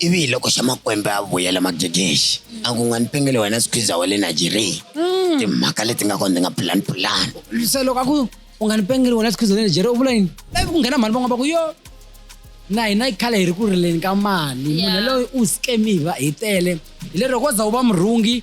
ivi hi loko xa makwembe a vuyela magegexi a ku nga ni pengele wena sikhwiza wa le nigeria mm. timhaka leti nga kona ti nga pulani pulani se loko a ku u nga ni pengele wena sikhwiza wa le nigeria u vula yini ivi ku nghena mhani van'wana va ku yo na hina yi khale hi ri ku rileni ka mali munhu loyi u scamiva hi tele hi lero ko za u va murhungi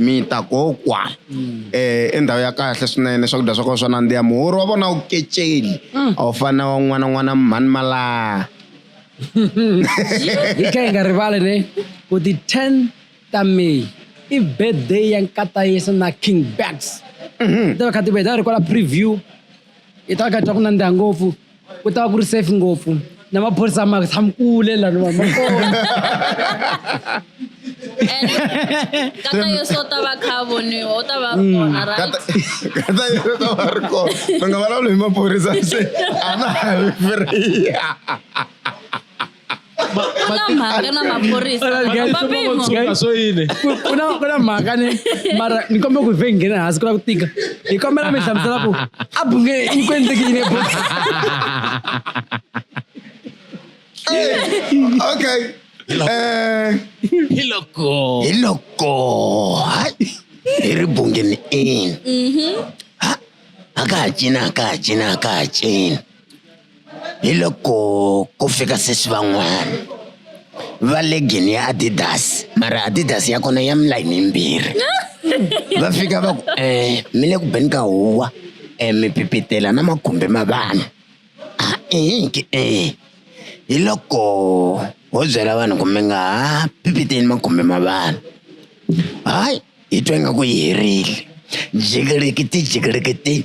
mi ta kokwa um endhawu ya kahle swinene swakudya swa kona swa nandziha muhoro wa vona wu keceli mm. a wu fani na wan'wana n'wana mhani malaha hi kha hi nga rivali ne ku ti-ten ta may i birthday ya nkatayisa na king bags mhm. ti va kha ti va hi ta ri kwala preview hi ta va kha hi twa ku nandziha ngopfu ku ta va ku ri safe ngopfu na maphorisa ma tshami kule lani vanhu va kona And kata yo so ta va kha voniwa u ta va ri kona right Kata- kata yi ta va ri kona mi nga vulavuli hi maphorisa se a na ha ri free kuna mhaka na maphorisa mapimo Guys, swo yini ku- ku na ku na mhaka ni mara ni kombela ku vhe nghena hansi ku lava ku tika hi kombela mi hlamusela ku a bunge yi ku endleki yini ebu okay eh hi loko hi loko hayi hi ri bungeni in ha a ka ha cina a ka ha cina a ka ha cina hi loko ku fika sweswi van'wana va legin ya adidas mara adidas ya kona ya milayini yimbirhi va fika va ku um mi le ku beni ka huwa um mi pipitela na makhumbi ma vanhu a inki e hi loko ho byela vanhu ku mi nga ha pipiteli makhumbi ma vanhu hayi hi twa ingaku yi herile jikelekiti jikelekiti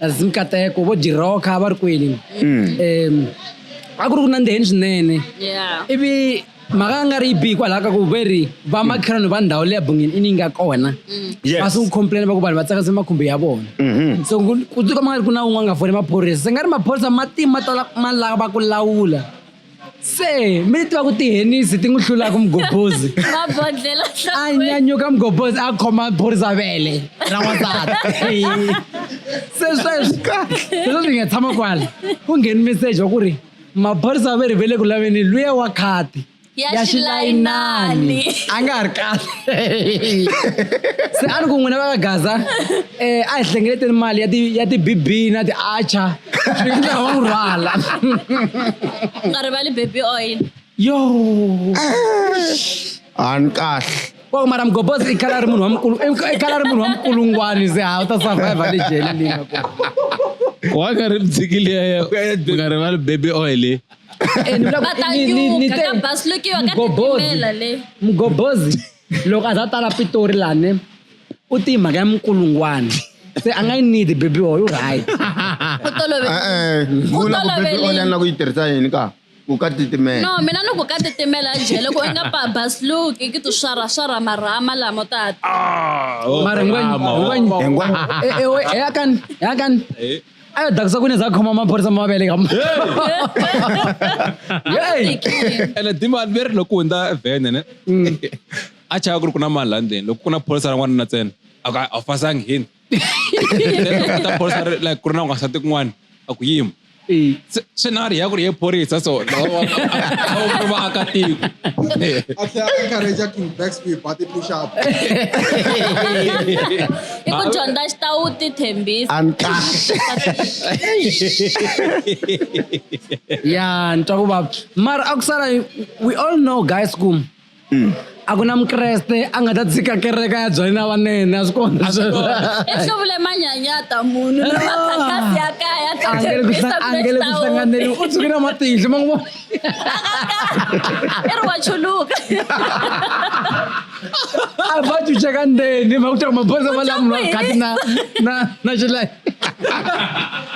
as nkateko vo dirhoka va ri kwini um a ku ri ku nandziheni swinene Yeah. ivi mhaka a nga ri yi bihi kwalaho ka ku ve ri va makhelwani va ndhawu leya bungeni i ni nga kona Yes. va sungu complain va ku vanhu va tsakase makhumbi ya vona so ku- ku tiko ma nga ri ku na un'we a nga foni maphorisa se nga ri maphorisa matima ma tala ma lava ku lawula se mi tiva ku tihenisi ti n'wi hlulaka mugobhozi mabodlela a nyanyuka mugobhozi a khoma phorisa vele ra n'wansati se sweswi leswi hi nga tshama kwala ku ngheni meseji wa ku ri maphorisa va ri vele ku laveni luya wa khati ya xilayinani a nga ha ri kahle se a ni ku n'wina va ka gaza um a hi hlengeleteni mali ya ti-bb na ti-archer swi nga va rhwala u nga rivali baby oil yo ani kahle wa mara mgobozi i khala ri munhu wa mukulu i khala ri munhu wa mukulungwani ze ha u ta survive le jele leyi nga kona wa nga ri mdzikili ya ya u nga rivali baby oil mgobozi loko a za tala pitori lani u ti mhaka ya mukulungwana se a nga yi need baby oil u right ku tolove Eh, eh, Ku vula ku baby toloverile. oil na ku yi tirhisa yini ka ku ka titimela no mina ni ku ka titimela njhe loko i nga babasluki ki ti swaraswara marhama lamo tata mara ngwenyakan yakan a yo dakisa kune za khoma maphorisa mavele ka Hey! ene dimali veri loko hundza vhene ne a chava ku ri ku na mali la ndzeni loko ku na pholisa ra n'wanuna ntsena a ku a wu pasangi hini ta pholisa ri- like ku ri na n'wansati kun'wana a ku yima Eh, Se- swi na ri ya ku ri ye phorisa so lawawauri vaakatiko a tlhela a encourage ku back speed ba ti push up i ku dyondza xitawu ti thembisa a ni kahle ya ni twa ku vava mara a ku sala we all know guys ku Mm. a ku na mukreste a nga ta tshika kereka ya byali na vanene a swi kona swo vula manyanyata munhu lowakhakasi ya kaya angele ku hlanganeli u tshukile matihlo ma n'wi vona i ri wa chuluka a va chucha ka ndzeni va ku tirha maphorisa va lamunhu a khati na na na xilayi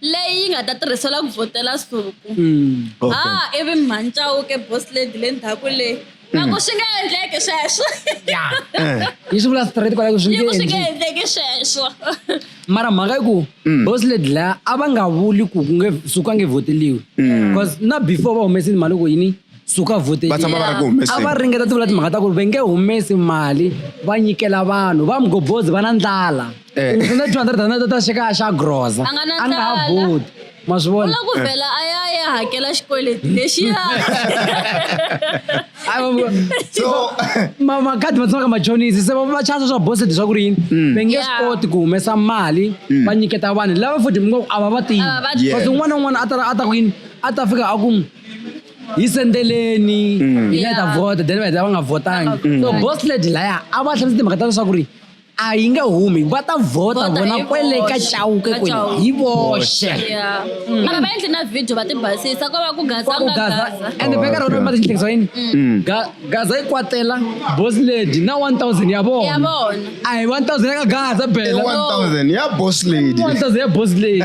leyi yi nga ta tirhisela ku vhotela suku Okay. ha ivi mhani chauke boss lady le ndzhaku leyi na ku swi nga endleki sweswo yi swi vula straight kwalaku swi yi nge ku swi nga endli endleki sweswo mara mhaka yi ku boss lady laya a va nga vuli ku ku nge suku a nge vhoteliwi bcause na before va humesile mhani ku yini suka vote va tshama va ri ku humeseni a va ringeta ti vula timhaka ta ku ri va nge humesi mali va nyikela vanhu va mugobozi va na ndlala eh. u n'wi two hundred rand ta xekaya xa groza a nga ha voti ma swi vona ku vhela a ya ya hakela xikweleti lexiya so makhadi ma tshamaka machonisi se va chasa swa boseti swa ku ri yini mm. va nge swi koti ku humesa mali mm. va nyiketa vanhu lava futhi mi ngo a va va tivi kasi un'wana na un'wana a ta a ta ku yini a ta fika a ku hi sendeleni mm. hi nga ta vota then va heta va nga votangi mm. so boss lady laya a va hlamise timhaka ta leswaku ri a yi nge humi va ta vhota vona kwele ka chauke kwele hi voxe mm. mara va endli na video va ti basisa ko va ku gazagaza ande veka rona ma tihlekisa yini gaza yi kwatela boss lady na 1000 ya vona a hi 1000 ya ka gaza bela 1000 ya boss lady 1000 ya boss lady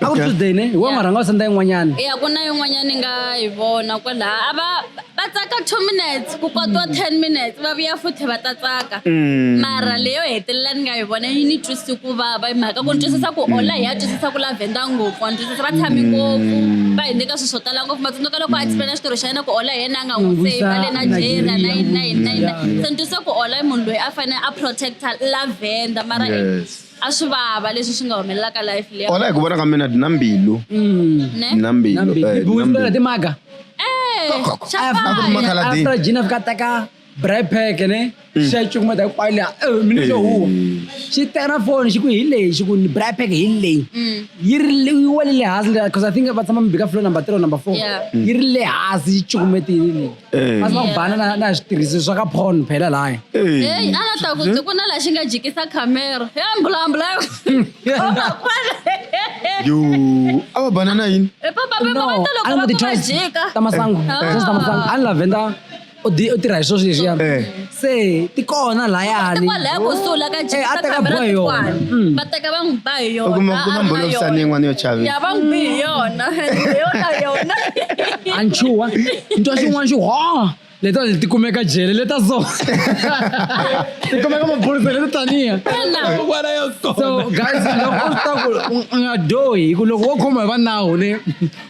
a ku ri tuesday ne hi wa n'wi rhanga wa senda yin'wanyana ya ku na yin'wanyana ni nga yi vona kwalaha a va va tsaka two minutes ku kotiwa ten minutes va vuya futhi va ta tsaka mara leyo hetelela ni nga yi vona yi ni twisi ku vava hi mhaka ku ni twisisa ku ola hi ya twisisa ku lavhenda ngopfu wa ni twisisa va tshami ngopfu va hi nyika swilo swo tala ngopfu matsundzuka loko a explaina xitirho xa yena ku ola hi yena a nga n'wi N'wi save va le visa nigeria na Nigeria. yini na yini na yini na yini. se ni twisisa ku ola i munhu loyi a fanele a protecta lavhenda mara Yes. a swi vava leswi swi nga humelelaka life leyi ona hi ku vona ka mina dina mbilu ne dina mbilu Nambi. eh, dina Bubuzi mbilu. na timaga. eh After- chapaya makhala- Khaladi. After Gina fika teka bribe pack ne. Xa cukumeta hinkwayo liya. Eh, mina xo huwa. Xi tera phone xi ku hi leyi xi ku ni bribe pack hi leyi. Yi ri le- yi wele le hansi liya, 'cause I think va tshama mi bika floor number three or number four. Yeah. Yi ri le hansi yi cukumetile leyi. masiva ku bana na na switirhisi swa ka porn phela laya heyi a nga ta ku byi ku na laha xi nga jikisa khamera he mbulambula yo a va bana na yini ta masangu just ta masangu a ni lavenda u di- u tirha hi swo sweswiya Eh. se ti kona layani Kwa laya kusuhi la ka Eh, Jika a teka kamera boy yona. tikwana. Mm. Va teka va n'wi ba hi u kuma yona. ku na a ri na mbholovisani yona. yin'wana yo chavisa Ya va n'wi bi hi yona. Hi yona yona. a ni chuha ni twa xin'wana xi ho leto ti kumeka jele leta so ti kumeka maphorisa leto taniya Ina. N'wana ya so guys loko u swi ta ku u- u nga dohi hi ku loko wo khoma hi va nawu ni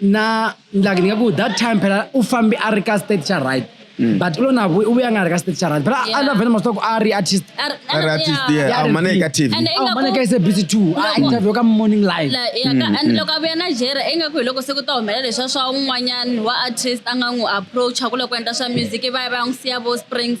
na like ni nga ku that time phela u fambi a ri ka state xa right Mm. but u lo na vu- u vuya a nga ri ka state xa right phela a Yeah. na vhele masitoko a ri artist Ar- a ri artist yeah. yeah Yeah, a humane ka tv And a ingaku- humane ka sabc two a Loko- interview ka morning live La- ya ka- Mm, and mm. loko a vuya na jere ingaku hi loko se ku ta humelela leswa swa un'wanyani wa artist a nga n'wi approacha ku loko endla swa music i va ya va ya n'wi siya vo springs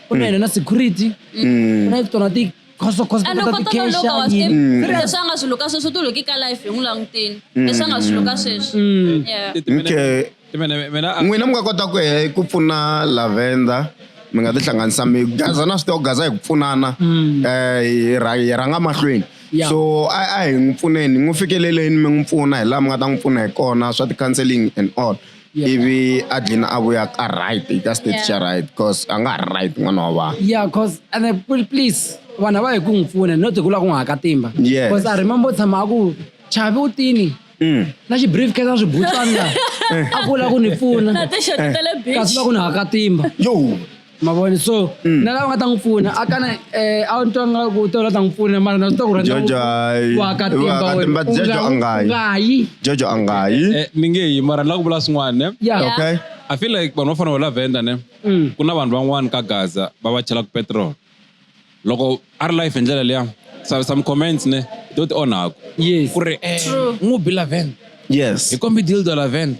kuna ene na security kuna ito na ti khoso khoso ende ko kota toloka wa tikesha swi Mm. tiva leswi a nga swi luka sweswo u ti luki ka life hi n'wi languteni leswi a nga swi luka sweswo Yeah. okay Mina- mina- ah, n'wina mi nga kota ku he ku pfuna lavenda mi nga tihlanganisa mi gaza na swi tiva ku gaza hi ku pfunana um hi ra- hi rhanga mahlweni Yeah. so a a hi n'wi pfuneni hi n'wi fikeleleni mi n'wi pfuna hi laha mi nga ta n'wi pfuna hi kona swa ti-counseling and all ivi a dlina a vuya ka right ka state xa right cause a nga ha ri right n'wana wa vanhu yeah cause and please vanhu va hi ku n'wi pfuna no ti ku la ku n'wi haka timba yes cause i remember tshama a ku chavi u tini mm. na xibrief case a swi butsana a ku la ku ni pfuna kasi va ku ni haka timba yo ma vona so Mm. na lava nga ta n'wi pfuna a kana eh, a ni twa nga ku to la ta n'wi pfuna mara na swi tiva ku rhandza Jojo, hayi. ku aka timba Wa ka wena. timba, U Jojo nga- a nga yi. u nga yi jojo a nga yi Eh, mi nge yi mara ni lava ku vula swin'wana ne ya Yeah. okay i feel like vanhu va fanele va lavenda ne Mm. ku na vanhu van'wana ka gaza va va chelaka petrol loko a ri life hi ndlela liya some, some comments ne to ti onhaku yes. ku ri eh, n'wi bi laven yes hi kombi dildo laven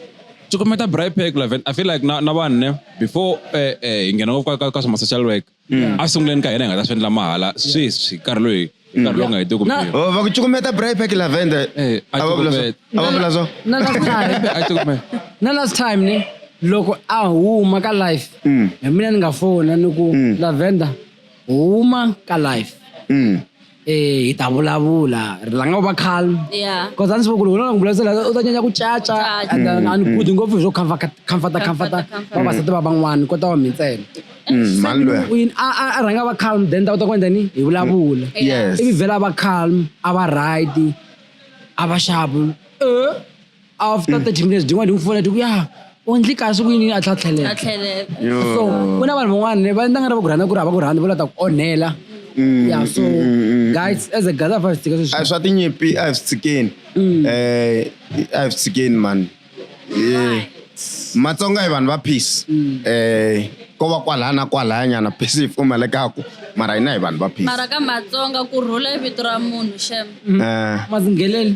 cukumeta bripec laven i feel like na, na vanhu ne before eh, eh, hi nghena ngopfu ka, ka swa ma-social work mm. a sunguleni ka hina hi nga ta swi endla mahala sweswi nkarhi loyi mm. nkarhi lowu nga heti ku oh, va ku cukumeta bripec lavender eh, a vula so na last time ne loko a huma ka life mm. hi mina ni nga fona ni ku lavender huma ka life mm. eh hi ta vulavula ri langa u va calm Yeah. because a ndzi va ku loko u lava ku vulavurisela u ta nyanya ku caca Caca. and then a ni budi ngopfu hi swo comfort- comforta comforta comforta. vavasati va van'wana kota wa mi ntsena Mm, mani loya Win, a a- a rhanga va calm then ta kota ku endla ni hi vulavula yes ivi vhela va calm a va right a va xavu eh after 30 minutes din'wana di n'wi fola ti ku ya u ndli kahle ku yini a tlha tlhelela so ku na vanhu van'wana ne va endla nga ri va ku rhandza ku ri hava ku rhandza va lava ta ku onhela Mm, ya so mm, guys as a guys a fa swi tshika a sweswi swa tinyimpi a hi swi tshikeni um a hi swi tshikeni mani Eh, matsonga hi vanhu va peace um ko va kwalaya na kwalaya nyana peace yi pfumalekaku mara hina hi vanhu va peace mara ka matsonga ku rhula i vito ra munhu xem Eh, mazingheleni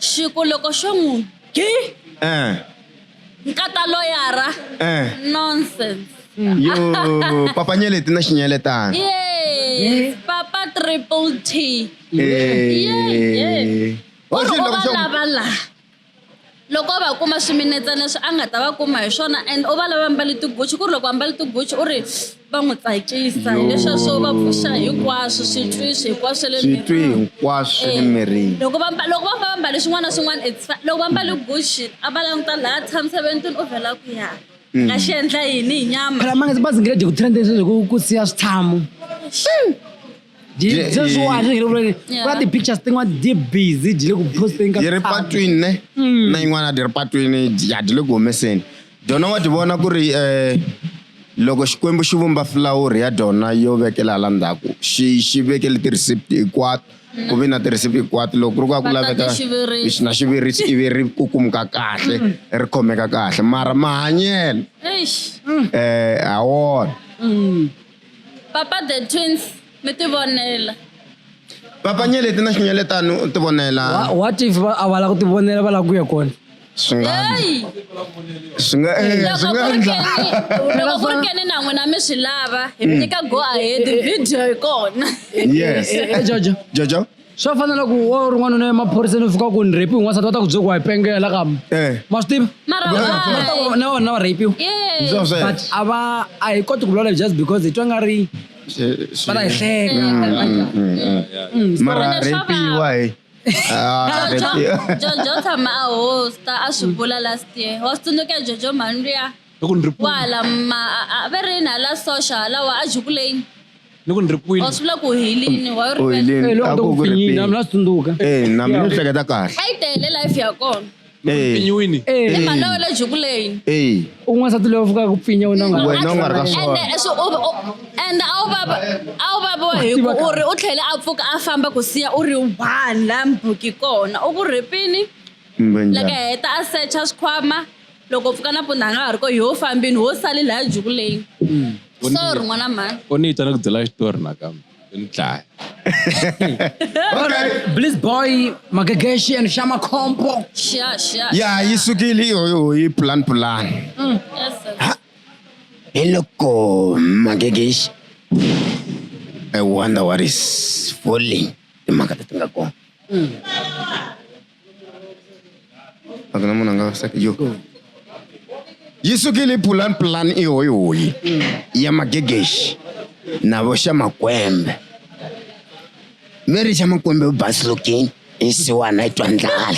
xi ku loko xo n'wi gi Eh. nkata loyara Eh. nonsense Yo, papa nyeleti na xinyeletana. yes papa triple t Eh. Yeah, Wa Ku ri swi u lava va swa ku- lava la loko va kuma swiminetsana leswi a nga ta va kuma hi swona and u va lava mbale tiguchi ku ri loko ambale tiguchi u ri va n'wi tsakisa hileswa swo va pfuxa hinkwaswo switwi swi hinkwaswo swa le switwi hinkwaswo swa le eh, mirini loko va loko va va mbale swin'wana na swin'wana it's loko va mbale gucci a va languta laha tshamisa ventini u vhela ku ya mm. nga xi endla yini hi nyama phela mangazi bazi nge le ku trendeni sweswi ku siya switshamu Jye- Just eh, watch, you know, like, Yeah. what the pictures thing, what they busy, jile ku posting ka yi ri thata. patwini ne na yin'wana ti ri patwini ya ti le ku humeseni dyona wa ti vona ku ri um loko xikwembu xi vumba fulawuri ya dyona yo vekela hala ndzhaku xi xi vekele ti-receipt hinkwato ku vi na ti-receipt hinkwato loko ku ri ku a ku Va laveka tate xivirisi. na xivirisi ivi ri kukumuka kahle ri khomeka kahle mara mahanyelo Eish. um ha wona Papa the twins mi ti vonela. Papa Nyeleti na Xinyeletani u ti vonela. Wha- what if va- a va la ku ti vonela va la ku ya kona Swi nga Hey! swi nga eh, swi Loko nga ku ri endla. Kenny- loko ku ri Kenny na n'wina mi swi lava hi mi nyika go ahead video hi kona Yes. Eh, eh, jojo Jojo. swa fana na ku wa u rin'wana u ne maphoriseni u fika ku ni rapiwe n'wansati va ta ku bye ku wa hi pengela la kama Eh. ma swi tiva Mara Va ta ku- va ta ku why? na wona va rapiwe Yeah. Ndzi sweswo. but a va a hi koti ku vulavula just because hi twa nga ri va ta hi hleka Mm, mara Swona swa repiwa hi Ah, repiwa. jojo tshama a hosta a swi vula last year wa swi tsundzuka jojo mhani luya ni ku ni ri kwala ma a- a ve rini hala soxa halawa a jukuleni ni ku ni ri kwini or swi vula ku hilini wa yo Oi, rivele Leni, Eh, loko a ndo ku ku ku ri pfinyina pini. mina tsundzuka Eh, na mina ni hleketa kahle. a yi tele life ya kona Eh, pinyiwini Eh, i mhani wa le jukuleni eh, un'wana nsati loyi a fukaka ku pfinya u na nga wena u nga ri ka ende swona. swi- u- u- ende a wu vava a wu vaviwa hi ku u ri u tlhele a pfuka a famba ku siya u ri one la mbuki kona u ku rhipini Mbe loko njhani? heta a secha swikhwama loko pfuka nampundza a nga ha ri ko yo fambini wo sali laya jukuleni hmm. sorry n'wana mhani u ni yita ni ku byela xitori nakambe ni dlaya bliss boy magegeshi and shama compo ya yi sukile yi plan plan mm, hi loko magegeshi i wonder what is falling timhaka leti nga kona mm. akana mona nga saki yo yi sukile pulani pulani i hoyihoyi ya magegexi na vo xa makwembe mi ri xa makwembe u basilukini i siwana i twa ndlala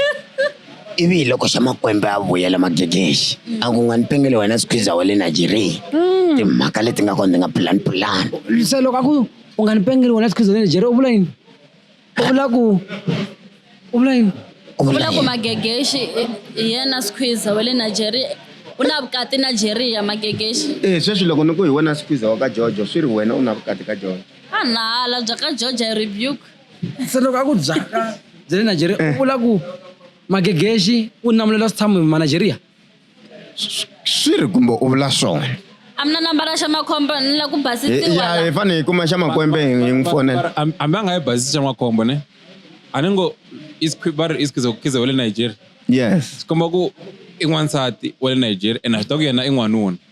ivi hi loko xa makwembe a vuyela magegexi a ku nga ni pengele wena sikhwiza wa le nigeria mm. timhaka leti nga kona ti nga pulani pulani se loko a ku u nga ni pengele wena sikhwiza wa le nigeria u vula yini u vula ku u vula yini u vula ku magegexi hi yena squeezer wa le nigeria u na vukati nigeria magegexi e eh, sweswi loko ni ku hi wena squeezer wa ka jojo swi ri wena u na vukati ka jojo a nala bya ka jojo hi rebuke se loko a ku byaka bya le nigeria u eh. vula ku magegexi u namulela switshamo hi manigeria swi ri kumbe u vula swona a mi na nambara xa makhombo ni la ku basisiwa ya hi fanele hi kuma xa makwembe hi n'wi fonela Am- ambe a nga yi basisi xa makhombo ne a ni ngo i squi- va ri i schizo- khize wa le nigeria yes komba ku i n'wansati wa le nigeria ene a swi ta ku yena i n'wanuna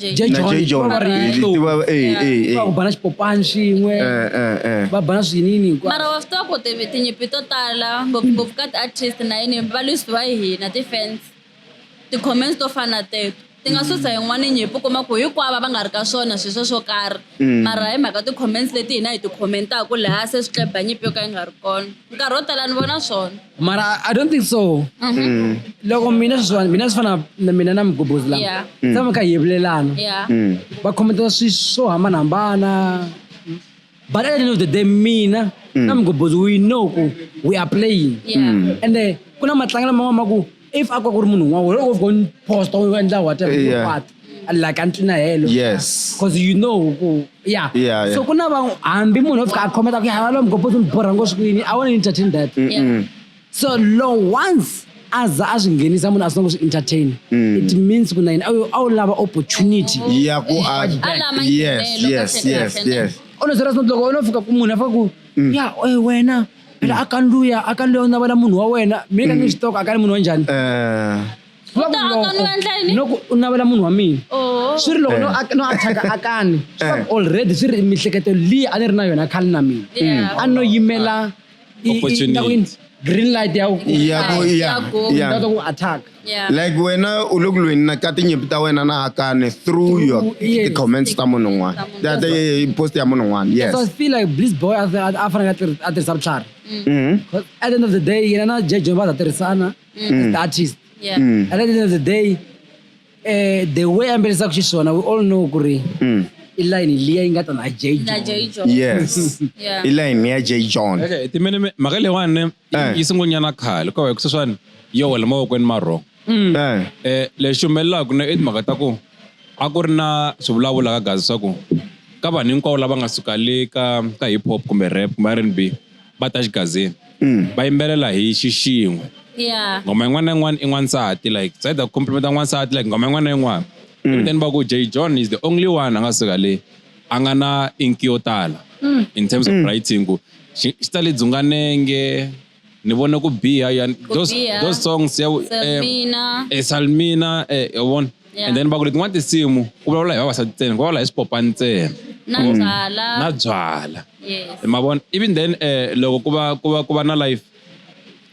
Jay na John. jay john Va va ri Eh, yitlo. ti va- eh, eh, eh. va ku bana xipopani swin'we Eh, eh, eh. va bana swinini hinkwaswo. mara wa swi tiva ku ti- tinyimpi to tala ngopfungopfu ka ti-artist na yini valwisi va hina ti-fans ti-comments to fana teto ti nga susa yin'wana nyimpi u kuma ku hinkwavo va nga ri ka swona swilo sweswo karhi mara hi mhaka ti-comments leti hina hi ti-commentaka laha se swi tleba nyimpi yo ka yi nga ri kona nkarhi wo tala ni vona swona mara i don't think so Mm. loko mina sweswiwani mina swi fana na mina na migobhozi lama Yeah. Mm. tshama ka yevulelana Yeah. Mm. va khometela swi swo hambanahambana but at the end of the day mina Mm. na migobhozi we know ku we are playing Yeah. Mm. ende ku na matlangelo man'wana ma ku if a ku ri munhu un'wana wena u gone post u endla whatever yeah. what like a ntwina helo yes because you know ku yeah. yeah, yeah. so ku na va hambi munhu o fika a khometa ku yava lomu gopoto ni borha ngo swikwini i want to entertain that mm -mm. so lo once aza a swi nghenisa munhu a swi na ku swi entertain mm. it means ku na yini a wu lava opportunity ya ku yes yes yes yes ono zera sinotloko ono fika ku munhu a fika ku mm. ya wena phela mm. akanuya akanuya u navela munhu wa wena mi ka ni mm. xitoko akani munhu wa njhani eh. loko u navela munhu wa mina oh. swi ri loko no eh. athaka akani eh. already swi ri miehleketo leyi a ni ri na yona khale na mina mm. a no yimela green light ya ku attack Yeah. like wena u le ku lweni na ka tinyimpi ta wena na hakane through your Through- yes. ti-comments ta munhu un'wana Ta munhu. Ta- ta- eh, post ya munhu un'wana yes so i feel like bliss boy a a- a fanele a tirhi- a tirhisa vutlhari Mhm. Because at the end of the day yena na jeje va ta tirhisana as the artist Yeah. Mm. at the end of the day eh, the way a yimbelisaka xiswona we all know ku ri Mm. i line liya yi nga ta na jeje Na Jay Jones. yes Yeah. i line ya j john Okay, timene me- mhaka leyiwani Eh. yi sungulnyana khale ko hi ku sweswiwani yo wela mavokweni ma wrong Mm. Eh. eh lexi humelelaka na i timhaka ta ku a ku ri na swivulavula ka gazi swa ku ka vanhu hinkwavo lava nga suka le ka ka hip hop kumbe rap kumbe rnb va ta xigazini Mm. va yimbelela hi xixin'we Yeah. ngoma yin'wana na yin'wana i n'wansati like it's either ku complimenta n'wansati like ngoma yin'wana na yin'wana Mm. then va ku j john is the only one a nga suka le a nga na inki yo tala mm. in terms of mm. writing ku xi ta le dzunganenge ni vone ku biha ya those, those songs ya eh, eh, salmina eh, yavona and then va ku letin'wana tinsimu ku vulavula hi vavasati ntsena ku vulavula hi swipopa ntsena na mm. byala na byala ma vona even then eh, loko ku va ku va ku va na life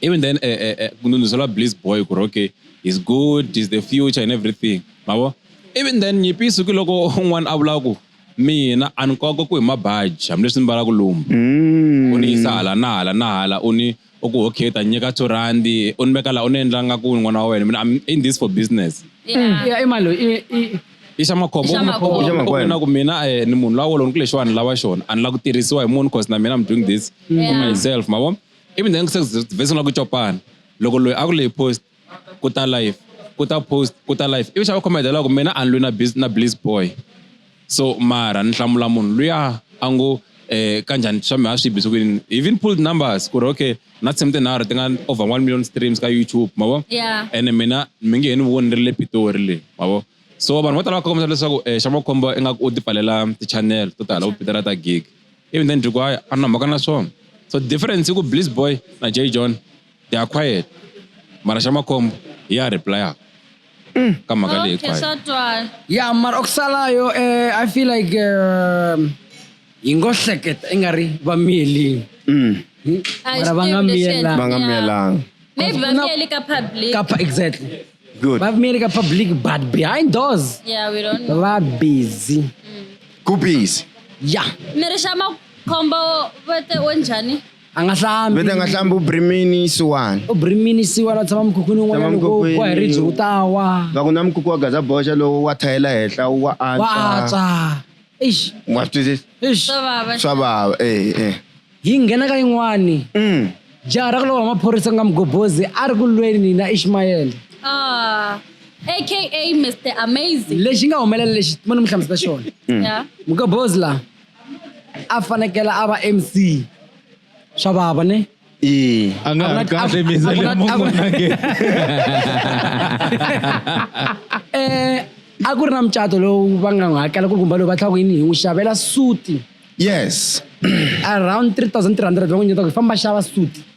even then eh, eh, eh, ku ndunduzela bliss boy ku ri okay is good is the future and everything ma vona Even then nyimpi yi suki loko un'wana a vula ku mina a ni kova ku hi mabaji hambileswi ni mbalaka lomu mm. u ni yisa hala na hala na hala u ni u ku okay ta nyika two randi u ni veka laha u ni endla nga ku n'wana wa wena mina I'm in this for business mm. ya imalo i xa makhomboina ku mina eh, ni munhu lawolo ni ku lexiwani lava xona a ni la ku tirhisiwa hi munhu cause na mina I'm doing this for myself ma vo even then se vhesi ni la ku copana loko loyi a ku leyi post ku ta live ku ta post ku ta live ivi xa va comment loko mina a ni lwi na biz na bliz boy so mara ni hlamula munhu luya a ngo eh kanjhani swa mi ha swi bise kwini even pulled numbers ku ri okay na tshimi tinharhu ti nga over one million streams ka youtube ma vo yeah. ene mina mi nge he ni voni ni ri le pitori le ma vo so vanhu vo tala va kombisa leswaku um eh, xa makhombo ingaku u ti pfalela ti-channel to tala vo pitera ta gig even then ndzi ku hayi a na mhaka na swona so difference i ku bliss boy na j john they are quiet mara xa makhombo hi ya replya ka mhaka leyi okay swa twala ya mara okusalayo eh, i feel like um, hi ngo hleketa i nga ri va miyelini Mm. A hi Mara va swi nga tivi leswi miyelanga. endlaka. va nga miyelanga maybe va miyeli ka public ka pa- exactly good va miyeli ka public but behind doors yeah we don't know va busy ku busy ya miri xa makhombo vete onjhani a nga hlambi vete a nga hlambi u brimini isiwani u brimini isiwani a tshama mukhukhwini un'wana loko wa hi ribye u ta wa va ku na mukhukhu wa gaza boxa lowo wa thayela henhla wa antswa eish wa twisisa eish swa vava eh eh hi nghena ka yin'wani mm jaha ra ku lova maphorisa ku nga mugobozi a ri ku lweni na ishmayele ah aka mr amazing lexi nga humelela lexi mo ni mi hlamusela xona mm. mugobozi laha a fanekele a va mc swa vava ne Ee. a nga ha ri kahle misa leyi munhu nage eh a ku ri na mucato lowu va nga n'wi hakela ku kumba loyi va tlhaka yini hi n'wi xavela suti yes around 3300 va n'wi nyeta ku famba xava suti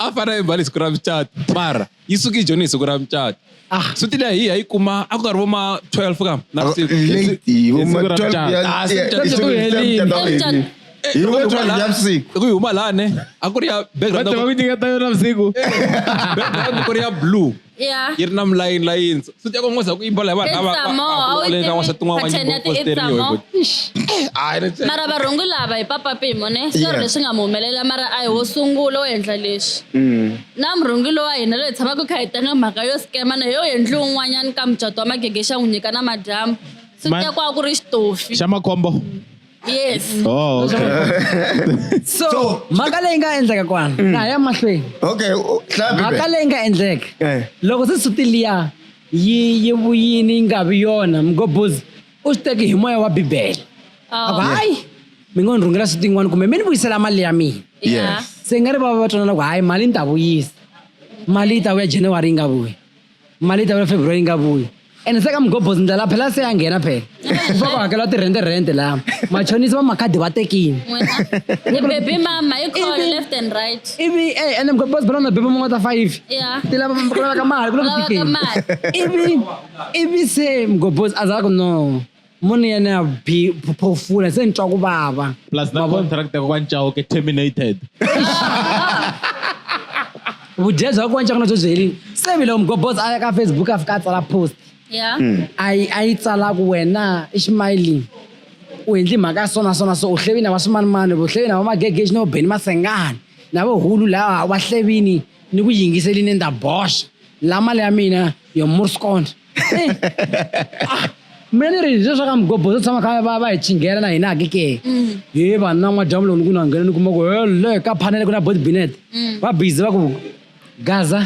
a fana a yimba lesiku ra mucato mara yi suke yi joni hi siku ra mucato ah. suti leyi hi ya yi kuma a ku karhi vo ma 12 kam navusiku huma lane a ku ri ya background ku ri ya blue Yeah. yi ri na mulayini layintsa futhi ya kongoza ku imbola hi vanhu lava It's more, va- va- a wu va- va- va- tivi tin'wana pattern ya ti- it's posterior, more. but- Eish. Ah, ene tse- mara varhongi lava hi papa pimo ne switori Yeah. leswi nga mu humelela mara a hi wo sungula wo endla leswi Mm. na murhungi lowa hina loyi hi tshamaka kha hi tanga mhaka yo skema na yo yendli un'wanyana ka mucato wa magege xa n'wi nyika na madyambu swi Mani- tekwa ku ri xitofi xa makhombo yes Oh, okay. so So- mhaka leyi nga endleka kwana na ha ya mahlweni okay u- hlaya mhaka Bibele. leyi nga endleka Eh. loko se suti liya yi yi vuyini yi nga vi yona mgobozi u swi teki hi moya wa bibele a ku hayi mi ngo ni rhungela suti yin'wana kumbe mi ni vuyisela mali ya mina Yeah. se nga ri va va va twanana ku hayi mali ni ta vuyisa mali yi ta vuya january yi nga vuyi mali yi ta vula february yi nga vuyi ene se ka mugobhozi ndlela la phela se ya nghena phela kufa ku hakela tirhente rhente laha machonisi va makhadi va tekini ni baby mama yi call Ivi- left and right ivi e ene mugobhozi phela na bebe mun'we ta five ya ti lava ku lavaka mali ku le ku lavaka tikeni mali ivi ivi se mugobhozi a za ku no munhu yena ya bi- pho- phofula se ni twa ku vava plus na Mavona. contract ya kokwani chauke terminated vudya bya kwanca kuna byo byi herile se vile mgobos a ya ka facebook a fika a tsala post Yeah. Hmm. a yi a yi tsala ku wena i ximayilini u endli mhaka ya sona sona so u hlevini va swimanimani u hlevini va magegeji no beni masengani na vo hulu laha va hlevini ni ku yingiselini ni ta boxa la mali ya mina yo murscond Ah, mina ni ri leswa ka mugobho swo tshama kha va va hi chinghela na hina ke ke mm. he vanhu na n'wadyambu lowu ni ku na nghena ni kuma ku hele ka phanele ku na body binet mm. va busy va ku gaza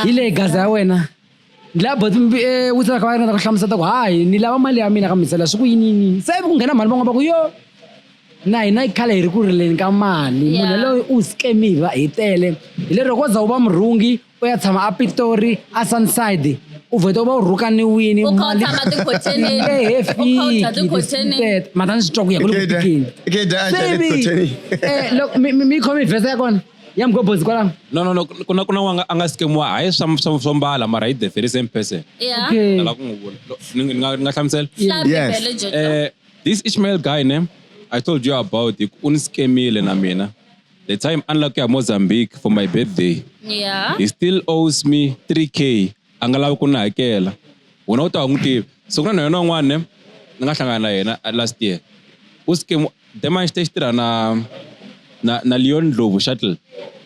hi leyi gaza ya wena ni lava body eh, witsa ka va ringeta ku hlamusela ku hayi ni lava mali ya mina ka misela swi ku yiniyini se ku nghena mhani van'wana va ku yo na hina yi khala hi ri ku rileni ka mali munhu yaloyo u scamiva hi tele hi lero ko za u va murhungi u ya tshama a pitori a sunside u vhete u va u rhukaniwini mata ni swi twa ku ya ku lebutikeni mi khome vhesa ya kona ya mgobozi kwalano no no no ku na ku na wanga a nga skemiwa hayi swa swa swo mbala mara hi the very same person lava ku n'wi vula ni nga ni nga hlamusela yes eh this Ishmael guy ne I told you about it u ni skemile na mina the time a ni lava ku ya mozambique for my birthday yeah he still owes me 3k a nga lavi ku ni hakela wena u ta wa n'wi tivi so ku na na yona un'wana ne ni nga hlangana na yena uh, last year u sike demanxite xi tirha na na na leon ndlovu shuttle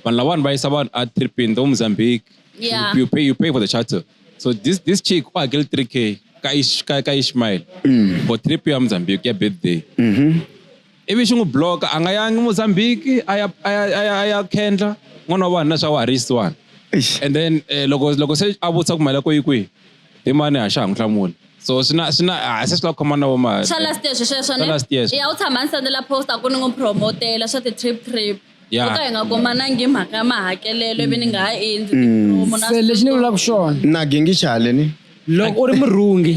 vanhu lavawani va yisa vanhu a tripini to mozambique Yeah. you, you pay you pay for the shuttle so this this chick u hakele 3k ka Ish- ka ka ishmael for trip ya mozambique ya birthday ivi xi n'wi block a nga yangi Mozambique a ya a ya a ya a ya khendla n'wana wa vanhu na swa wa ha ri yisiwani Eish. and then eh, loko loko se a vutisa ku mali ya ko yi kwihi hi mani a xa ha n'wi hlamuli so swi na swi na a se swi la ku khoma na vo ma swa last year sweswo Swa last year ne sweswo. ya u tshama ni sendela post a ku ni n'wi promotela swa ti-trip trip ya ta hi nga komanangi mhaka ya mahakelelo ivi ni nga ha endli tipromo na se lexi ni vulaka xona na gengi xaleni loko u ri murhungi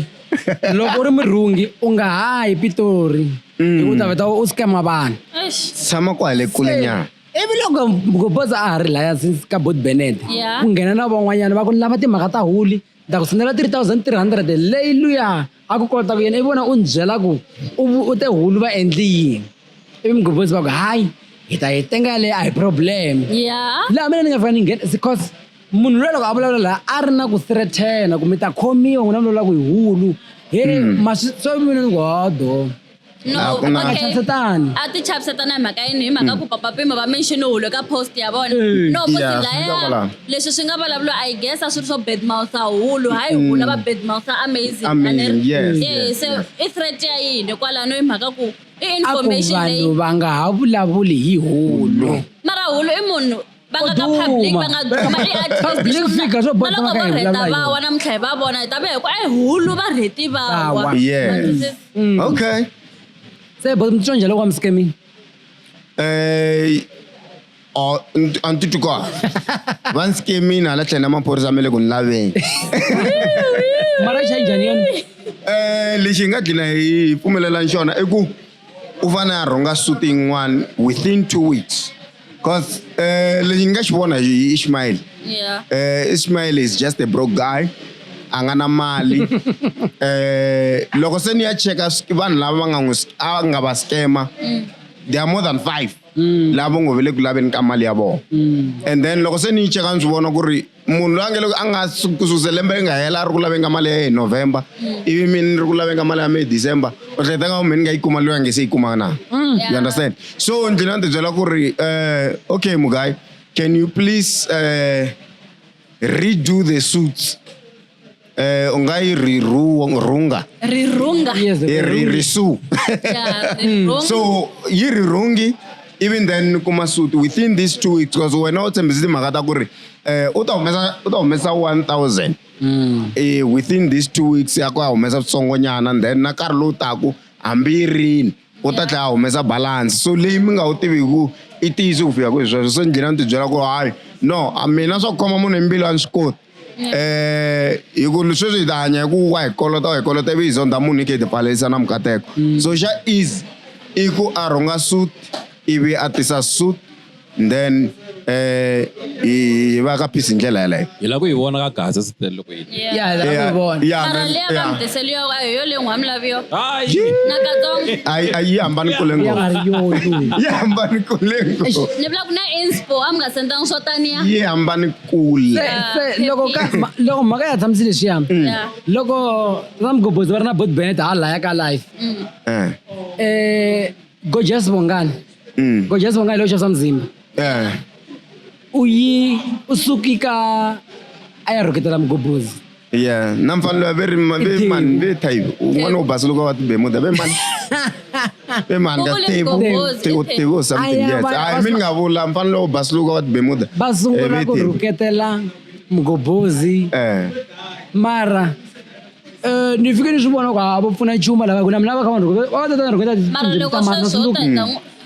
loko u ri murhungi u nga ha yi pitori hikuva u ta veta u scama vanhu Eish, tshama kwale kule nyana ivi loko goboza a ha ri laya since ka bot benet Yeah. ku nghena na van'wanyana va ku lava timhaka ta huli ni ta ku sendela 3300 leyi luya a ku kota ku yena i vona u ni byela ku u u te hulu va endli yini ivi mugobonzi va ku hayi hi ta yi tenga yaleyo a hi problem ya laha mina ni nga fika ni nghena because munhu loyi loko a vulavula laha a ri na ku sirethena ku mi ta khomiwa n'wina vulavula ku hi hulu he hmm. maswi so mina ni ku hodo No, A ku na- okay. Chavisatani. a ti chavisatana hi mhaka yini hi mhaka ku papa pimo va mention hulo ka post ya vona Eh. no ku Yeah, swi dlaya kwalaho. leswi swi nga vulavuriwa i guess a swi ri swo bedmousa hulu hayi hulu va bedmousa amazing Amazing, yes, yes, yes so yes. i threat ya yini kwalano hi mhaka ku i a ku information vanhu leyi va nga ha vulavuli hi hulu mara hulu i munhu va nga ka public va nga duma eartistpublicfigure swo bola va rheta va wa namuntlha hi va vona hi ta va hi ku i hulu va rheti va wa mm. okay se bo mitswa njhani loko wa mi scaming eh a ni titwi kwa va ni scamini hala tlhela na maphorisa ma le ku ni laveni mara xa njhani yona um lexi hi nga dlina hi pfumelelani xona i ku u va na rhunga suti yin'wana within two weeks cause eh, lexi ni nga xi vona hi ishmael Yeah. eh, ishmael is just a broke guy a nga na mali eh, loko se ni ya cheka sk- vanhu lava va nga n'wi sk- a nga va skema they are more than five lava ngo ve le ku laveni ka mali ya vona and then loko se ni yi cheka ni swi vona ku ri munhu loyi a nge loko a nga kusuze lembe ri nga hela a ri ku lavenga mali ya ye hi november ivi mi ni ri ku lavenga mali ya mi hi december u hleketa nga mi ni nga yi kuma loyi a nge se yi kuma na mm. you understand so ndzi na ndzi byela ku ri um okay mugayi can you please um redo the suits Eh, u nga yi ri ru- rhunga rirhunga Yes, i ri ri su Yeah, rirhunga. so yi ri rhungi even then kuma suti within these two weeks because wena u tshembise timhaka ta ku ri eh, u ta humesa u ta humesa 1000 eh, within these two weeks ya ku a humesa switsongonyana and then na nkarhi lowu taku hambi yi rini u ta tlhela a humesa balance so leyi mi nga wu tiviku i tiyisi ku fika kwihi sweswo se njhina ni tibyela ku hayi no a mina swa ku khoma munhu hi mbilu a ni swi koti eh hi ku sweswi hi ta hanya hi ku wa hi kolota wa hi kolota ivi hi zonda munhu hi khe hi tipfalerisa na mukateko mm. so xa easy i ku a rhunga suit ivi a tisa suit then eh hi va ka peace hi ndlela yeleyo hi lava ku yi vona ka gaza sitele loko yi a yi hambani kule ngopfu yi hambani kule ngopfu ni vula ku na inspo a mi nga sendanga swo taniya yi hambani kule Se- se- loko ka- ma- loko mhaka ya tshamisi leswiya Yeah. loko ramgobhozi va ri na bot benet ha laya ka life Eh, um gojas bongani mm, gojas bongani leyo xavisa mzimba eh. u yi u suki ka a ya rhuketela mugobhozi Yeah, na mfanelo ya veri ma- ve mani ve type un'wana wo basa loko va ti bemuda ve mani ve mani ka Kukuli tebu mgombozi, tebu iphepha. tebu or something Aya, yes va- hayi va- mi ni nga vula mfanelo wo basa loko va ti bemuda va Eh, sungula ve ku tebu. rhuketela mgobozi eh mara eh, ni fike ni swi vona ku a va pfuna nchumu lava ku na mina va kha va ni rhuketa- va va tata ni rhuketa mara tindzimi loko ta mhana sweswo u ta Zulu. ta n'wi-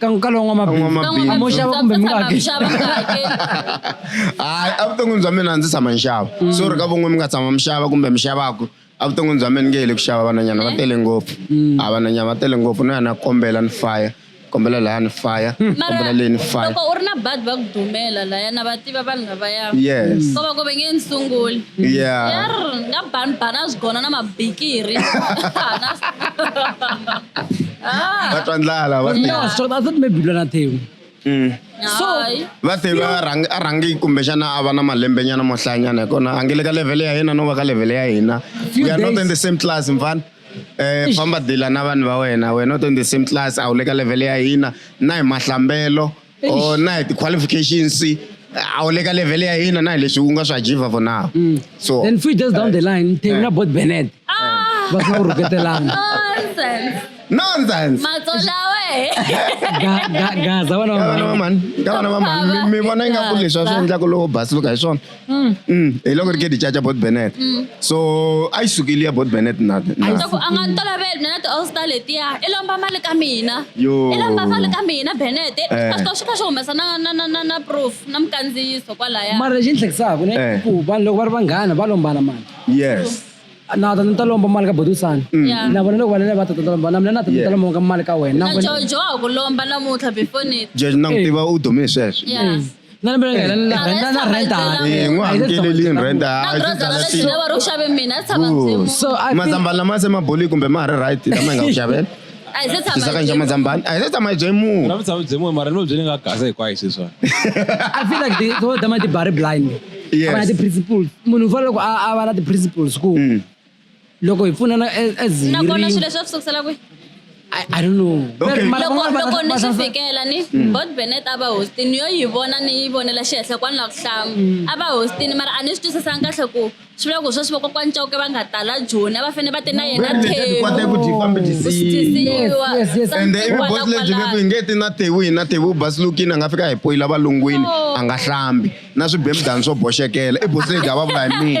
ka ka lowu n'wamabindzu N'wamabindzu. mo xava kumbe mi nga hakeli xava mi nga hakeli hayi evuton'wini bya mina a ndzi tshama nxava so ri ka von'we mi nga tshama mi xava kumbe mi xavaku evuton'wini bya mina nge hi le ku xava vananyana va tele ngopfu a vananyana va tele ngopfu no ya na kombela ni faya kombela laya ni faya kombela leyi ni faya loko u ri na badi va ku dumela laya na va tiva vanhu lavaya yes so loko ve nge ni sunguli yeah yer nga bani bani a swi gona na mabikiri Ah, va twa ndlala va No, so I thought maybe Lona Theo. Mm. hayi. va se va rhang- a rhangi kumbexana a va na malembe nyana mo hlayanyana hi kona a nge le ka level ya hina no va ka level ya hina Few we are not days. in the same class mfana Eh, famba dila na vanhu va wena we're not in the same class a wu le ka level ya hina na hi mahlambelo or na hi ti-qualifications a wu le ka level ya hina na hi leswi u nga swi achieve for now mm. so then few days down the line themi eh. na bot benet ah. va sina ku rhuketelana nonsense matsola we gaza vana va mani ka vana va mani mi vona ingaku leswi a swi endlaku lowo basi loka hi swona Mm. Mm. eloko ri ke dichacha bot benet mm. so a yi sukeli ya bot benet naku a nga ni toloveli mina ti allstar letiya i lomba mali ka mina i lomba mali ka mina benet eh. a swi ta xi kha xi humesa na na na na na proof na mukandziyiso kwalaya mara lexi ni hlekisaka ne eh. ku vanhu loko va ri vanghana va lombana mali yes na ta ta lomba mali ka bodusana mm. na vona loko vanene va ta ta lomba na mina na ta ta lomba ka mali ka wena na jojo a ku lomba namuntlha before ni jojo na n'wi eh. tiva u dume sweswo Na na bela ngela na rent na rent a. Eh, ngo hamkeleli ni rent a. Na brother la xi lava ro xave mina a tshama ndzi. So I mazambani lama se maboli kumbe ma ha ri right lama hi nga ku xavela. A hi se tshama. Sisaka nje mazambani. A hi se tshama bye mu. Na tshama bye mu mara no bye nga gasa hinkwayo sweswa. I feel like the so dama ti bari blind. Yes. Abana ti principles. Munhu u fanele ku a a va na ti principles ku. Mm. loko hi pfunana as- as hi nakona ri- swilo leswi va swi sukisela kwihi I- I don't know. Okay. Mara loko van'wana va- loko va- ni va- swi fikela ni bot benet a va hostini yo yi vona ni yi vonela xihenhla kwani la ku hlama a va hostini mara a ni swi twisisanga kahle ku swi vula ku sweswi vakokwani cauke va nga tala joni a va fanele va te na yena Vele leti kwate thewu ku dyi fambe dyi siyi. Yes, yes, yes. ende ivi bosi lebyi veku hi nge ti na tewu hi na tewu basilukini a nga fika hi poyila valungwini a nga hlambi na swibemudani swo boxekela i bosi lebyi a va vula hi mina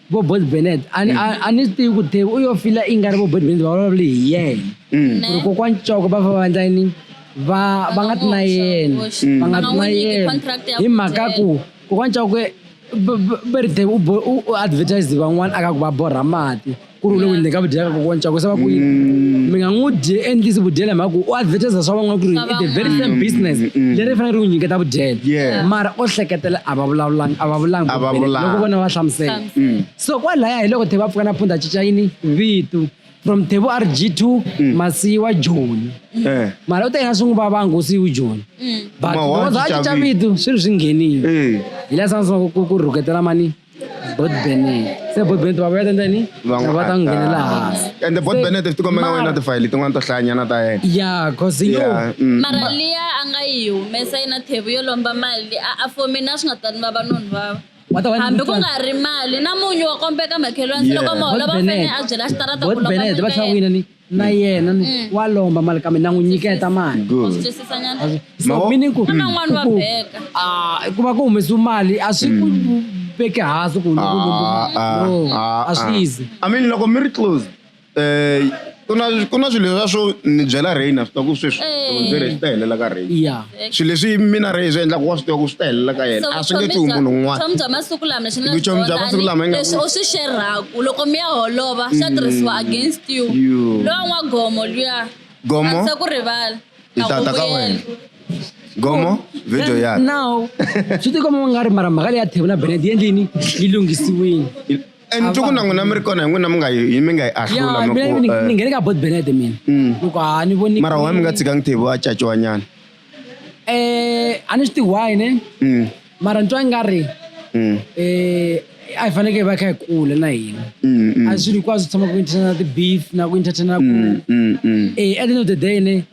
vo boys benet a ni- a- a ni swi tivi ku tevi u yo fila i nga ri vo boys benet va vulavule hi yena Mm. ku ri kokwani coko va fa va endla yini va va nga ti na yena va nga ti na yena hi mhaka ku kokwani coko va ri tevi u bo- u u advertise van'wana a ka ku va borha mati ku ri u le ku endleni ka vudyela ka kokwani coko se va ku yini mi nga n'wi dye endlisi vudyela hi mhaka ku u advertise swa van'wana ku ri i the very same business leri fanele ri n'wi nyiketa vudyela Yeah. mara o hleketela a va vulavulangi a va vulangi A va ku veleka, vulanga. loko vona va hlamusela Mm. so kwalaya hi loko thebu a pfuka na pfundha cinca yini vito from thebu a ri g2 Mm. masiyiwa joni Eh. mara u ta yena swi n'wi vava ngosi yi joni but Ma wa loko za a cinca cinca vito. vito swi ri swi nghenile Eh. hi laha sangu ku ku rhuketela mani bot benet se bot benet va vuyela ndzeni Va n'wi va ta n'wi nghenela attack. hansi ende bot Se- benet ti kombe nga wena mara- tifayili tin'wana to hlayanyana ta yena ya cause yo Yeah, mm. mara liya a nga yi humesa yi na thevu yo lomba mali a a for mina swi nga ta ni vava noni vava Wa ta va ni hambi ku mutswari. nga ri mali na munyu wa kombeka makhelwani se Yeah. loko moholo va Bot Benet. fanele a byela xitarata ku Bot lomba Benet, mali va ya tlhela va yena. wina ni- na yena ni Mm. wa lomba mali kambe na n'wi nyiketa mali Good. Twisisanyana. so Maho- meaning ku Ku na n'wana wa ku- beka. ah, ku va ku humesiwe mali a swi ku veki hansi ku loko u lombe mali. Ah, No, ah, a swi ah. easy I mean loko mi ri close eh ku na ku na swilo leswa swo ni byela rain a swi ta ku sweswi Eh. ndzi ri swi ta helela ka rain yeah swilo leswi mina rhe hi swi endlaka wa swi tiva ku swi ta helela ka yena a swi nge tsuhi munhu un'wana vutomi bya masiku lama swi nga Vutomi bya masiku lama ingaku- leswi u swi xerhaku loko mi ya holova swa tirhisiwa against you You. lowa n'wa gomo luya Gomo? a ndzi ku rivala Hi a ta ku ta ka vuyela. wena. gomo video yakhe now swi tikomba u nga ri mara mhaka leyi ya thebula benedi yi endlini yi lunghisiwile And Ava- tuku na n'wina mi ri kona hi n'wina mi nga yi hi- mi nga yi ahlula ya mi mina ku, ni- eh, ni nghene ka bot benete mina Mm. loko a ni voni mara why mi nga tshikangi table a caciwa nyana eh a ni swi tihi why ne Mm, mara ni twa nga ri mm, eh a hi fanekele va kha hi kula na hina mm, mm, a swilo hinkwaswo tshama ku entertaina na ti-beef na ku entertaina ku mm, mm, mm. eh at the end of the day ne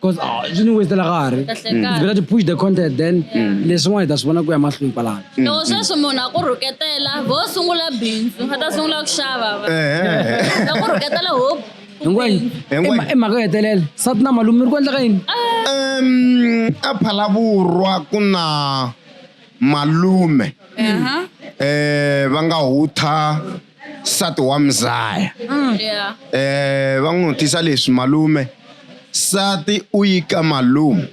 Because ah, swi ni westela nkarhi. Kahle It's kahle. better to push the content then leswin'wana hi ta swi vona ku ya mahlweni kwalano. loko sweswi munhu a ku rhuketela ho sungula bindzu a ta sungula ku xava va Eh, a ku rhuketela hope Hinkwenu Hinkwenu. i mha- i mhaka yo hetelela sati na malume mi ri ku endla ka yini? em, a phalavurwa ku na malume Aha. eh va nga hutha nsati wa mzaya mm. yeah. eh va n'wi vutisa leswi malume nsati u yi ka malume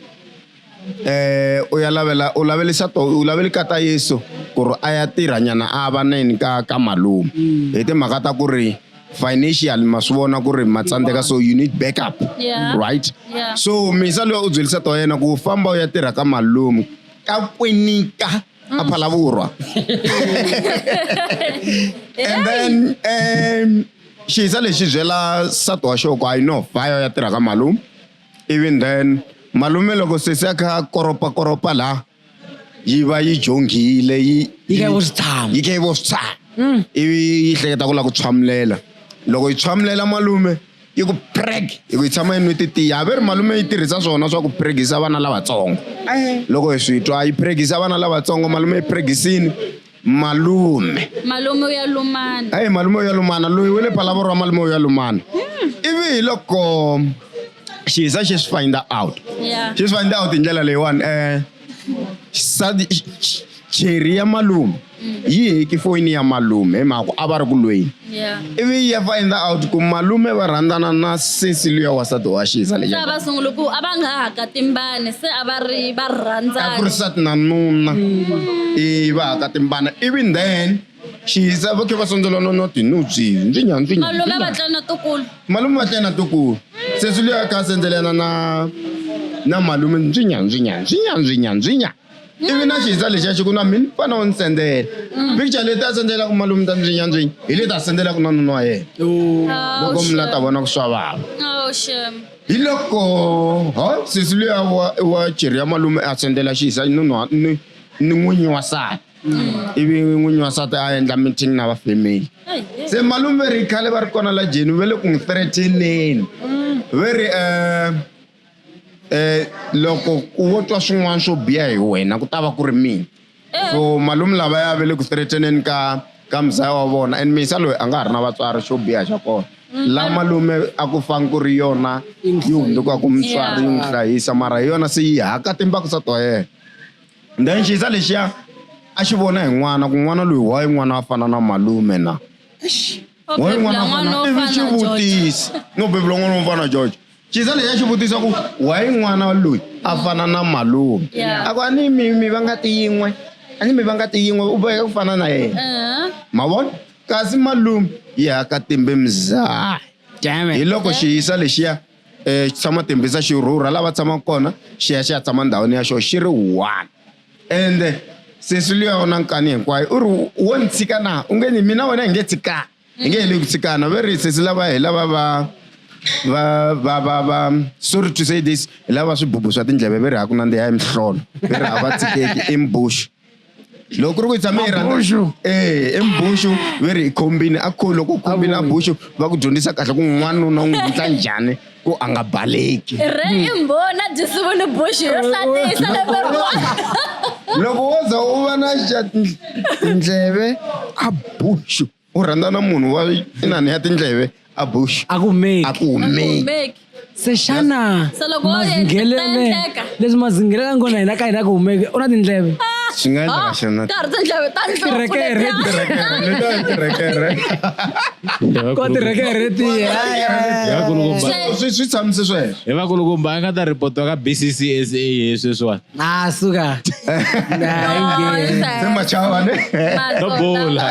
eh u ya lavela u lavelisa to u laveli ka ta Yesu ku ri a ya tirha nyana a va neni ka ka malume mm. hi timhaka ta ku ri financial ma swi vona ku ri ma tsandzeka so you need backup yeah. right yeah. so misa loyi u byelisa to yena ku famba u ya tirha ka malume ka kwinika mm. a phala vhurwa and then um xiza lexi byela nsati wa xoko i know vhayo ya tirha ka malume even then malume loko sesi a kha koropakoropa laha yi va yi jonghile yi yi ke vositshamo yi ke vositshamo mm. ivi yi hleketa ku lava ku tshwamulela loko yi tshwamulela malume i ku preg hi ku yi tshama yi nwi titiya ve ri malume yi tirhisa swona swa ku pregisa vana lavatsongo loko hi swi twa yi pregisa vana lavatsongo malume yi pregisini malume malume u ya lumana eyi malume u ya lumana loyi we le palavoro wa malume u ya lumana hmm. ivi hi loko xiza xi swi find out xi swi find out hi ndlela leyiwani um xisadi cheri ya malume yi heki foyini ya malume hi mhaka ku a va ri ku lweni ivi yi ya find out ku malume va rhandzana na sesi luya wasati wa xisa leyi va sungule ku a va nga ha ka timbani se a va ri va rhandzana a ku ri sati na nuna i va ha ka timbana ivi then xisa va khe va sondzela no no tinubyi ndzinya ndzinya malume va tlana tukulu malume va tlana tukulu sesi luya ka sendzelana na na malume ndzinya ndzinya ndzinya ndzinya ndzinya ivi na xihisa lexiya xi ku na mina fana u ni sendzela mm. picture leti a sendzelaka malume ta ndzi nyandzwini hi leti a sendzelaka na nuna wa yena oh. loko oh, mina ta vona ku swa vava oh, hi loko ha sesi luya wa cheri ya malume a sendzela xihisa ni n'winyi wa sati mm. ivi n'winyi wa sati a endla meeting na va family se malume ri khale va ri kona la jeni ve le ku n'wi threateneni mm. ve ri um Eh loko wo twa swin'wana swo biha hi wena ku ta va ku ri mina eh. so malume lava ya ve le ku threateneni ka ka muzaya wa vona and misa loyi a nga ha ri na vatswari xo biha xa kona mm. la malume a ku fangi ku ri yona yi hunduka ku mutswari yi n'wi hlayisa mara hi yona se yi haka timbaku sa to yena then xiyisa lexiya a xi vona hi n'wana ku n'wana loyi wa yi n'wana wa fana na malume na wa yi n'wana wa fana ivi xi vutisa no bebula n'wana wa fana george Gisele ya xi vutisa ku why n'wana loyi a fana na malume Yeah. a ku a ni mi mi va ngati yin'we a ni mi va ngati yin'we u boheka ku fana na yena Uh-huh. ma vona kasi malume yi haka timbe mzaha Damn hi it. loko xi yisa lexiya um xi tshama tembisa xi rhurha lava tshamaka kona xi ya xi ya tshama ndhawini ya xona xi ri one ende sesi luya u na nkani hinkwayo u ri wo ni tshika na u nge ni mina wena hi nge tshikani hi nge heli ku tshikana very sesi lava hi lava va va va va va sorry to say this hi lava swibubu swa tindleve ve ri ha ku nandziha hi mihlolo ve ri hava tshikeki i mbuxu loko ku ri ku hi tshame hi rhandza eh i mbuxu ve ri hi khombini a kho loko u khombini a buxu va ku dyondzisa kahle ku n'wanuna u n'wi endla njhani ku a nga baleki re i mbona dyisivu ni buxi yo hlatisa lembe loko wo za u va na xa tindleve a buxu u rhandza na munhu wa inani ya tindleve a buxu a ku meki a ku humeki se xana mazinghelele leswi mazinghelele ngona hina ka hina ku humeki u na tindleve ah! swi nga endleka xana karhi tindleve ta nhloko swi tshamise sweswo hi vakulukumba a nga ta ripotiwa ka bccsa hi sweswiwani a suka machavaneobola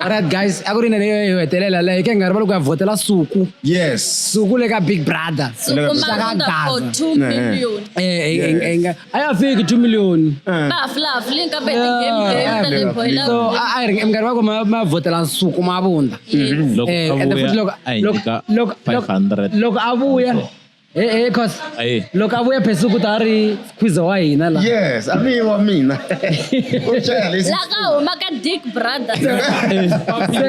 Alright guys, a ku ri nene yo hetelela leyi ke nga ri va loko ya vhotela Suku. Yes. Suku le ka Big Brother. Suku ma for 2 million. Eh, eh, eh, eh a ya fiki two million eh. so a ri minkarhi va ku ma vhotela nsuku ma vunda loko a vuya Hey, hey, cause Aye. look abuya phezulu ukuthi ari squeeze wa hina la yes amiwa mina ushaya lesi la ka huma ka dick brother Eh, se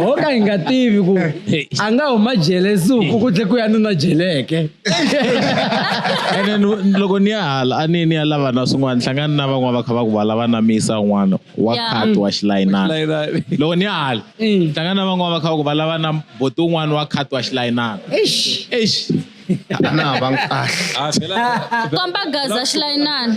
ho ka hi nga tivi ku Hey. a nga huma jele suku ku tlhe ku ya nuna jeleke and then loko ni ya hala a ni ni ya lava na swin'wana hlangani na van'wana va kha va ku va lava na misa un'wana wa Yeah. khat wa xilayinana Like that. loko ni ya hala Mm. hlangani na van'wana va kha va ku va lava na boti un'wana wa khat wa xilayinana eish eish na va nkahle Ah, vela- komba gaza xilayinani